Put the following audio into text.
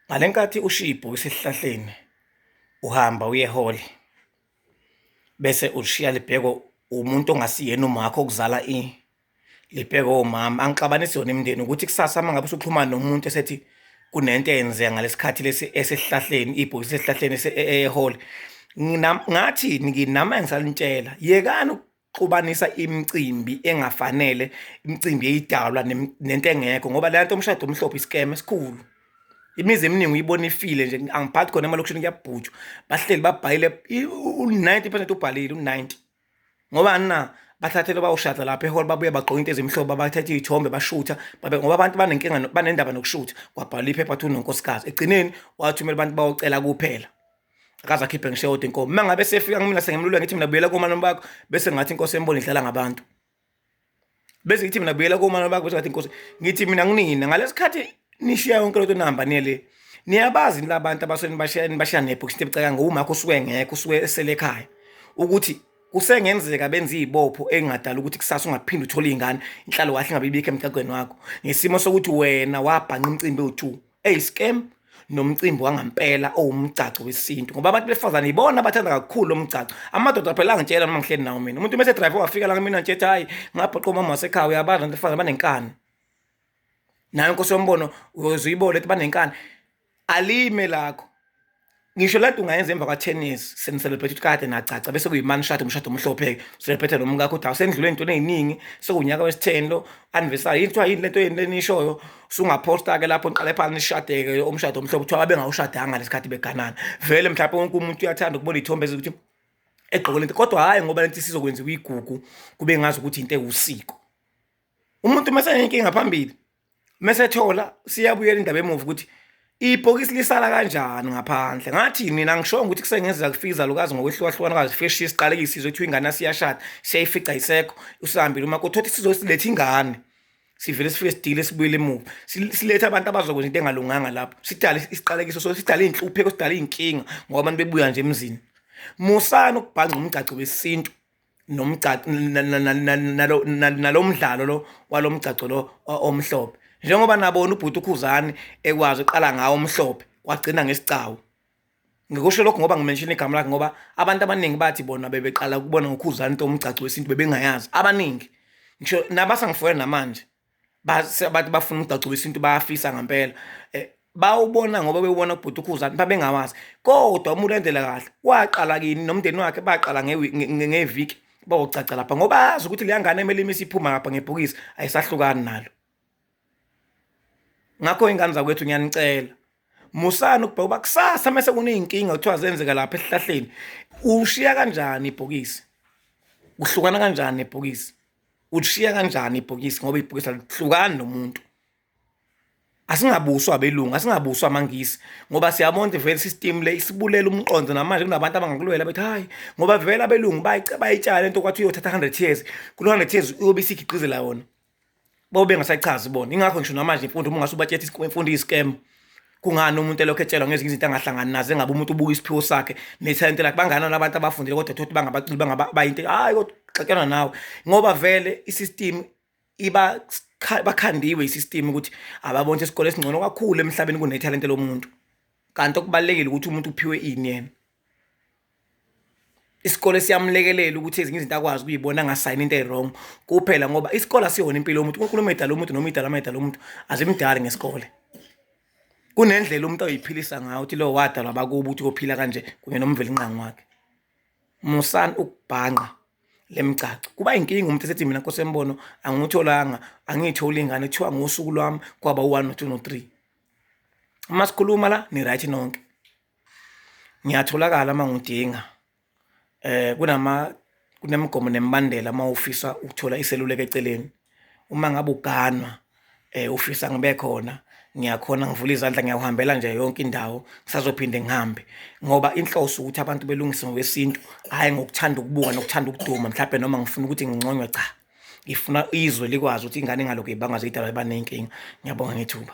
ngale nkathi ushiya ibhokisi esihlahleni uhamba uye ehholi bese ulishiya libhekwe umuntu ongasiyena umakho okuzala i libhekwe umama angixabanisi yona imindeni ukuthi kusasa uma ngabe usuxhumana nomuntu esethi kunento eyenzeka ngalesikhathi lesi esihlahleni ibhokisi esihlahleni ehholi ngathi nginama engisalintshela yekani xubanisa imicimbi engafanele imicimbi eyidalwa nento engekho ngoba le nto umshado omhlophe isikeme esikhulu imizi eminingi uyibona ifile nje angiphathi khona emalokishini kuyabhujwa bahleli babhayile u-90 percent ubhalile u-90 ngoba na bathathele bawushada lapha ehole babuye bagqoke into ezimhlophe abathathe iy'thombe bashutha babe ngoba abantu banenkinga banendaba nokushutha kwabhala iphepha athi unonkosikazi ekugcineni wathumela abantu bawocela kuphela akaze akhiphe ngisho yodwa inkomo uma ngabe sefika kumina sengimlule ngithi mina buyela komalume bakho bese ngathi inkosi embona idlala ngabantu bese ngithi mina buyela komalume bakho bese ngathi inkosi ngithi mina nginina ngalesikhathi nishiya yonke lento nihamba niye le niyabazi nila abantu abasuke nibashiya nibashiya nepho kuthi bucaka ngowumakho usuke ngekho usuke esele ekhaya ukuthi kusengenzeka benza izibopho engadala ukuthi kusasa ungaphinde uthole izingane inhlalo wahle ngabe ibikho emgaqweni wakho ngesimo sokuthi wena wabhanqa umcimbi owu2 eyi scam nomcimbi wangampela owumgcagco wesintu ngoba abantu besifazane yibona abathanda kakhulu lo mgcagco amadoda phela angitshela noma ngihleli nawo mina umuntu mese drive wafika la kumina ntshethi hhayi ngabhoqa umama wasekhaya uyabazi abantu besifazane banenkani nayo nkosi yombono uyoze uyibone ukuthi banenkani alime lakho ngisho lento ungayenza emva kwa-tennis senicelebrate ukuthi kade nacaca bese kuyimani shade umshado omhlophe-ke celebrate nomkakho ukuthi awusendlule ey'ntweni ey'ningi sekuwunyaka wesitheni lo anniversary yini kuthiwa yini lento yeni lenishoyo sungaphosta-ke lapho niqale phansi nishadeke umshado omhlophe kuthiwa babengawushadanga lesikhathi beganana vele mhlawumpe wonke umuntu uyathanda ukubona iy'thombe ezokuthi egqoke lento kodwa hhayi ngoba lento isizokwenziwa igugu kube ngazi ukuthi into ewusiko umuntu uma senenkinga phambili mesethola siyabuyela indaba emuva ukuthi ibhokisi lisala kanjani ngaphandle ngathi mina ngishongo ukuthi kusengenzeka kufika izalukazi ngokwehlukahlukana kwazi fresh isiqaleke isizwe kuthiwa ingane asiyashada siyayifica isekho usihambile uma kuthothi sizosiletha ingane sivele sifike sidile sibuyele emuva silethe abantu abazokwenza into engalunganga lapho sidale isiqalekiso so sidale iy'nhlupheko sidale iy'nkinga ngoba abantu bebuya nje emzini musani ukubhanca umgcaco wesintu nomgcagco nalomdlalo lo walomgcagco lo omhlophe njengoba nabona ubhuti ukhuzani ekwazi uqala ngawo omhlophe wagcina ngesigcawu ngikusho lokho ngoba ngimenshina igama lakhe ngoba abantu abaningi bathi bona bebeqala ukubona ngokhuzani into omgcagco wesintu bebengayazi abaningi ngisho nabasangifoyela namanje bathi bafuna umgcagco wesintu bayafisa ngempela um bawubona ngoba bewubona kubhuti ukhuzani babengawazi kodwa uma ulandela kahle waqala kini nomndeni wakhe baqala ngeviki bawugcagca lapha ngoba azi ukuthi leya ngane emele imisi iphuma ngapha ngebhokisi ayisahlukani nalo ngakho ingane zakwethu ngiyanicela musani ukubheka uba kusasa mese kuney'nkinga kuthiwa zenzeka lapha esihlahleni ushiya kanjani ibhokisi kuhlukana kanjani nebhokisi ulishiya kanjani ibhokisi ngoba ibhokisi alihlukani nomuntu asingabuswa abelungu asingabuswa amangisi ngoba siyabona ukuthi vele system le isibulela umqondo namanje kunabantu abangakulwela bethi hayi ngoba vele abelungu bayitshala into kwathi uyothatha 100 years kulo 100 years uyobe isigigqizela yona bobe ngasayichazi bona ingakho ngisho namanje imfundo uma ngase ubathethe imfundo iyiscam kungani umuntu elokhu etshelwa ngezinye izinto angahlangani nazo engabe umuntu ubuka isiphiwo sakhe nethalente lakhe banganani abantu abafundile kodwa thothi bangabaculi bangabayinto hhayi kodwa xatyana nawe ngoba vele i-system iba bakhandiwe i-system ukuthi ababona isikole esingcono kakhulu emhlabeni kunethalente lomuntu kanti okubalulekile ukuthi umuntu uphiwe ini yena isikole siyamlekelela ukuthi ezinye izinto akwazi ukuyibona angasayini into ewrong kuphela ngoba isikole asiyona impilo yomuntu unkulunkulu umedala umuntu noma idala amedala umuntu azimdali ngesikole kunendlela umuntu oyiphilisa ngayo ukuthi lo wadalwa bakubo ukuthi kophila kanje kunye nomvelinqangi wakhe musani ukubhanqa lemgcagco kuba inkinga umuntu esethi mina nkosi embono angitholanga angiyitholi ingane kuthiwa ngosuku lwami kwaba u-1 no-2 no-3 uma sikhuluma la ni-right nonke ngiyatholakala uma ngidinga eh kunama kunemigomo nemibandela uma ufisa ukuthola iseluleko eceleni uma ngabe uganwa eh ufisa ngibe khona ngiyakhona ngivula izandla ngiyawuhambela nje yonke indawo ngisazophinde ngihambe ngoba inhloso ukuthi abantu belungise ngokwesintu hhayi ngokuthanda ukubuka nokuthanda ukuduma mhlawumbe noma ngifuna ukuthi nginconywe cha ngifuna izwe likwazi ukuthi ingane ingaloku ibangazidalwa iba nenkinga ngiyabonga ngethuba